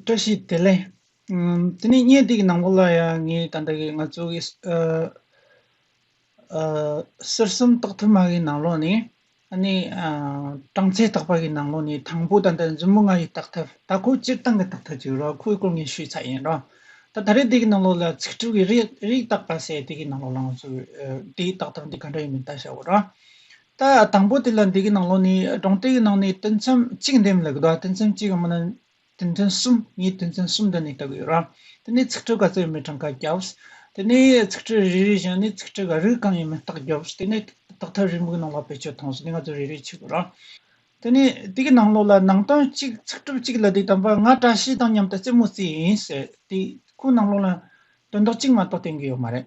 བཀྲ་ཤིས་བདེ་ལེགས། དེ་ནས་བརྙན་འདི་གི་ནང་པོ་ལ་ཡང་ངའི་ད་ལྟ་གི་ང་ཚོ་གི་གསེར་གསུམ་རྟགས་མཐོ་དམའ་གི་ནང་ལོགས་ནས་ཨ་ནི་གྲངས་ཚད་རྟགས་པ་གི་ནང་ལོགས་ནས་དང་པོ་ད་ལྟ་མཛུབ་མོ་ལྔ་ཡི་རྟགས་ཐབས་ད་ཁོ་སྤྱིར་བཏང་གི་རྟགས་ཐབས་ཅིག་རོ་ཁོའི་སྐོར་ངས་ཞུས་ཚར་ཡིན་རོ། ད་ད་རེས་འདི་གི་ནང་ལོགས་ལ་ཚིག་གྲུབ་ཀྱི་རིགས་རྟགས་པ་ཟེར་དེ་གི་ནང་ལོགས་ལ་ང་ཚོ་དེའི་རྟགས་ཐབས་འདི་ག་འདྲ་ཡིན་མིན་བལྟ་ཞའོ་རོ། ད་དང་པོ་དེ་ལ་འདི་གི་ནང་ལོགས་ནས་སྒྲུང་གཏེ་གི་ནང་ནས་དོན་ཚན་གཅིག་འདེམས་ལ་གདའ་དོན་ཚན་གཅིག་གམ་ན་དོན་ཚན་གསུམ་ངས་དོན་ཚན་གསུམ་འདི་ནས་བལྟ་གི་ཡོད་རང་དེ་ནས་ཚིག་ཁྲི་ག་ཚོད་ཡོད་མེད་གྲངས་ཀ་རྒྱབ། དེ་ནས་ཚིག་ཁྲི་རེ་རེ་བཞག་ནས་ཚིག་ཁྲི་ག་རིགས་གང་ཡོད་མེད་བརྟག་རྒྱབ་དེ་ནས་བརྟག་ཐབས་རིང་པོའི་ནང་ལ་བེད་སྤྱོད་ཐོངས་སོ་དེ་ང་ཚོས་རེ་རེ་བྱེད་དགོས་རང། དེ་ནས་དེ་གི་ནང་ལོགས་ལ་ནང་དོན་གཅིག་ཚིག་གྲུབ་གཅིག་ལ་འདི་དམ་པ་ང་བཀྲ་ཤིས་དང་མཉམ་དུ་རྩེད་མོ་རྩེས་ཡིན་ཟེར་དེ་ཁོའི་ནང་ལོགས་ལ་དོན་དག་གཅིག་མ་གཏོགས་བསྟན་གི་ཡོད་མ་རེད།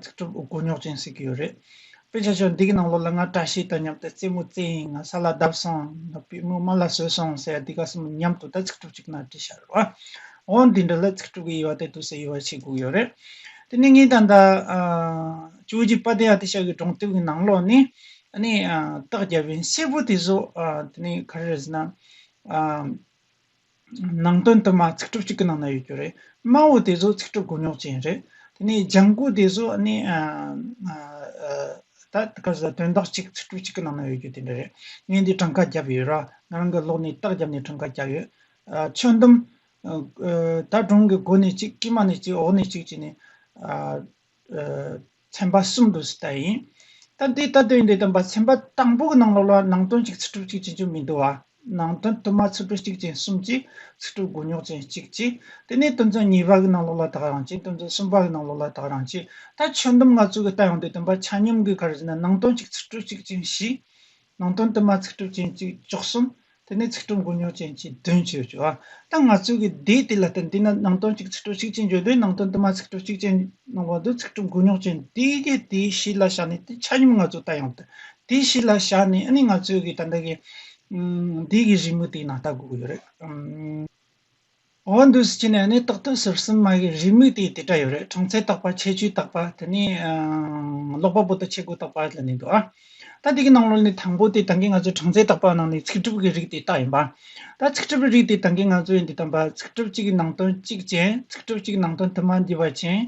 ཚིག་གྲུབ་དགོས་རྙོག་ཅན་ཟེར་གྱི་ཡོད་རེད། དཔེ་ཆ་ཆུང་འདི་གི་ནང་ལོགས་ལ་ང་བཀྲ་ཤིས་དང་མཉམ་དུ་རྩེད་མོ་རྩེ་ཡིན་ང་ས་ལ་བརྡབས་སོང་ང་པུས་མོ་རྨ་ལ་བཟོས་སོང་ཟེར་ཡ་འདི་ག་གསུམ་མཉམ་དུ་ད་ཚིག་གྲུབ་ཅིག་ན་བྲིས་ཤར་བ། འོ་འདི་འདྲ་ལ་ཚིག་གྲུབ་ཀྱི་དབྱེ་བ་དེ་དུ་ཟེར་དབྱེ་བ་བྱེད་དགོས་ཡོད་རེད། དེ་ནི་ངའི་ད་ལྟ་ཇོ་ཇི་པ་དེ་ཡ་དེ་ཤག་གི་སྒྲུང་དེབ་ཀྱི་ནང་ལོགས་ནས་ནས་རྟགས་བརྒྱབ་བའི་སེར་པོ་དེ་ཟོ་དེ་ནི་ག་རེ་རེད་ཟེར་ན། ནང་དོན་དུ་མ་ཚིག་གྲུབ་གཅིག་གི་ནང་ན་ཡོད་རྒྱུ་རེད། སྨྲ་བོ་དེ་ཚོ་ཚིག་གྲུབ་དགོས་ཉོག་ཅན་རེད། དེ་ནས་ལྗང་གུ་དེ་ཚོ་ནི་ད་དེ་ག་ཟེ་དོན་དག་གཅིག་ཚིག་གྲུབ་གཅིག་གི་ནང་ན་ཡོད་རྒྱུ་དེ་འདྲ་རེད། ངས་འདི་གྲངས་ཀ་བརྒྱབ་ཡོད་ར་ང་རང་གི་ལོག་ནས་རྟགས་བརྒྱབ་ནས་གྲངས་ཀ་བརྒྱབ་ཡོད། ཆོས་འདུམ། ད་གྲོང་གི་སྒོ་ནས་གཅིག་དཀྱིལ་མ་ནས་གཅིག་འོག་ནས་གཅིག་བྱས་ནས། ཚན་པ་གསུམ་དུ་ཟད་ཡིན། ད་འདི་ལྟ་དོན་འདི་དང་པ་ཚན་པ་དང་པོ་གི་ནང་ལོགས་ལ་ནང་དོན་གཅིག་ཚིག་གྲུབ་གཅིག་ཅན་ཅུང་མི་འདུ་བ། ནང་དོན་དུ་མ་ཚིག་གྲུབ་གཅིག་ཅན་གསུམ་གཅིག་ཚིག་གྲུབ་དགུ་ཉོག་ཅན་གཅིག་གཅིག་དེ་ནས་དོན་ཚན་གཉིས་པ་གི་ནང་ལོགས་ལ་དག་རང་གཅིག་དོན་ཚན་གསུམ་པ་གི་ནང་ལོགས་ལ་དག་རང་གཅིག་ད་ཆོས་འདུམ་ང་ཚོ་གི་ལྟ་ཡང་འདི་དང་པ་ཆ་སྙོམས་གི་གར་བཞིན་ན་ནང་དོན་གཅིག་ཚིག་གྲུབ་གཅིག་ཅན་བཞི། ནང་དོན་དུ་མ་ཚིག་གྲུབ་ཅན་གཅིག་བཅུ་གསུམ། དེ་ནས་ཚིག་གྲུབ་འགོ་ཉོག་ཅན་གྱི་བདུན་བཅུ་བཅུ། ད་ང་ཚོས་ཀྱི་སྡེ་དེ་ལ་བརྟེན་དུས་ན་ནང་དོན་གཅིག་ཚིག་གྲུབ་གཅིག་ཅན་བརྗོད་དུས་ནང་དོན་དུ་མ་ཚིག་གྲུབ་གཅིག་ཅན་ནང་བ་དུ་ཚིག་གྲུབ་འགོ་ཉོག་ཅན་དེའི་རྒྱུ་དེ་གཞི་ལ་བཞག་ནས་དེ་ཆ་སྙོམས་ང་ཚོས་ལྟ་ཡང་དུ་དེ་གཞི་ལ་བཞག་ནས་ནི་ང་ཚོས་ཀྱི་ད་ལྟ་གྱི་སྡེ་གྱི་རི་མོ་དེའི་ནང་ལྟ་དགོས་ཀྱི་ཡོད་རེད། འོ་འདུག་སྤྱི་ནས་ནི་རྟག་ཏུ་ཟུར་གསུམ་མ་གིས་རིས་མིག་དེ་དེ་འདྲ་ཡོད་རེད་གྲངས་ཚད་བརྟག་པ་ཁྱད་ཆོས་བརྟག་པ་དེ་ནི་ཀློག་པ་པོ་དང་ཆེ་དགུ་བརྟག་པ་ལ་ནི་འདུག་ཨ། ད་དེ་གི་ནང་ལོ་ནི་དང་པོ་དེ་ད་གིན་ང་ཚོས་གྲངས་ཚད་བརྟག་པ་ནང་ནི་ཚིག་གྲུབ་ཀྱི་རིགས་དེ་བརྟག་ཡིན་པ། ད་ཚིག་གྲུབ་རིགས་དེ་ད་གིན་ང་ཚོས་འདི་དང་པ་ཚིག་གྲུབ་གཅིག་གི་ནང་དོན་གཅིག་ཅན་ཚིག་གྲུབ་གཅིག་གི་ནང་དོན་དུ་མ་འདུས་པ་ཅན།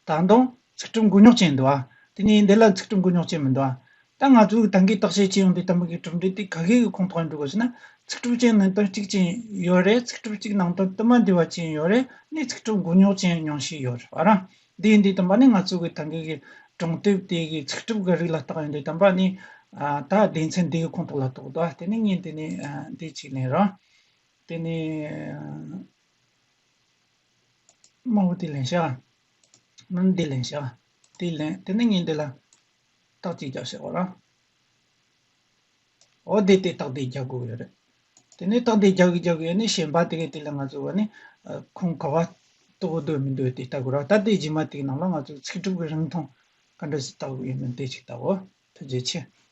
ད་དུང་ཚིག་གྲུབ་མགོ་རྙོག་ཅན་འདུག་ཨ། དེ་ནས་འདི་ལ་ཚིག་གྲུབ་མགོ་རྙོག་ཅན་མི་འདུག་ཨ། ད་ང་ཚོས་ད་གིས་བརྟག་དཔྱད་བྱེད་ཡོང་དུས་ད་མི་གིས་གྲུབ་འབྲས་དེ་ག་གེ་གི་ཁོངས་གཏོགས་ཡིན་འདུག་གོ་ཞེ་ན། ཚིག་གྲུབ་ཅན་ནང་དོན་གཅིག་ཅན་ཡོད་རེད་ཚིག་གྲུབ་གཅིག་ནང་དོན་དུ་མ་འདྲིས་བ་ཅན་ཡོད་རེད་ནི་ཚིག་གྲུབ་མགོ་རྙོག་ཅན་ཉུང་ཤས་ཡོད་རེད་བ་རང། དེ་འདི་དམ་པ་ནི་ང་ཚོས་གིས་ད་གིས་གི་གྲོང་དེབ་དེ་གིས་ཚིག་གྲུབ་གི་རིགས་ལ་བརྟག་ཡོང་དུས་དམ་པ་ནི། ད་སྡེ་ཚན་འདི་གི་ཁོངས་གཏོགས་ལ་གཏོགས་འདུག་ཨ་དེ་ནི་ངས་འདི་ནས་འདི་གཅིག་ལན་རང། དེ་ནས། དམངས་བོ་དེ་ལན་ཤག། ནང་དེ་ལན་ཤག། དེ་ལན་དེ་ནི་ངས་འདི་ལ། རྟགས་གཅིག་རྒྱག་ཤག་ཨོ་ར། ཨོ་དེ་དེ་རྟགས་དེ་རྒྱག་དགོས་ཡོད་རེད། དེ་ནས་རྟགས་དེ་རྒྱག་གི་རྒྱག་གི་ཡོད་ནི་གཞན་པ་དེ་གས་དེ་ལ་ང་ཚོས་བ་ནི། ཁོང་ག་བ་ལྟོ་གོ་འདོད་མི་འདོད་དེ་ལྟ་དགོས་ར་ད་དེ་རྗེས་མ་དེ་ནང་ལ་ང་ཚོས་ཚིག་གྲུབ་ཀྱི་རིང་ཐུང་ག་འདྲ་ཞིག་བཏགས་དགོས་ཡོད་མེད་དེ་ཅིག་ལྟ་འོ། ཐུགས་རྗེ་ཆེ།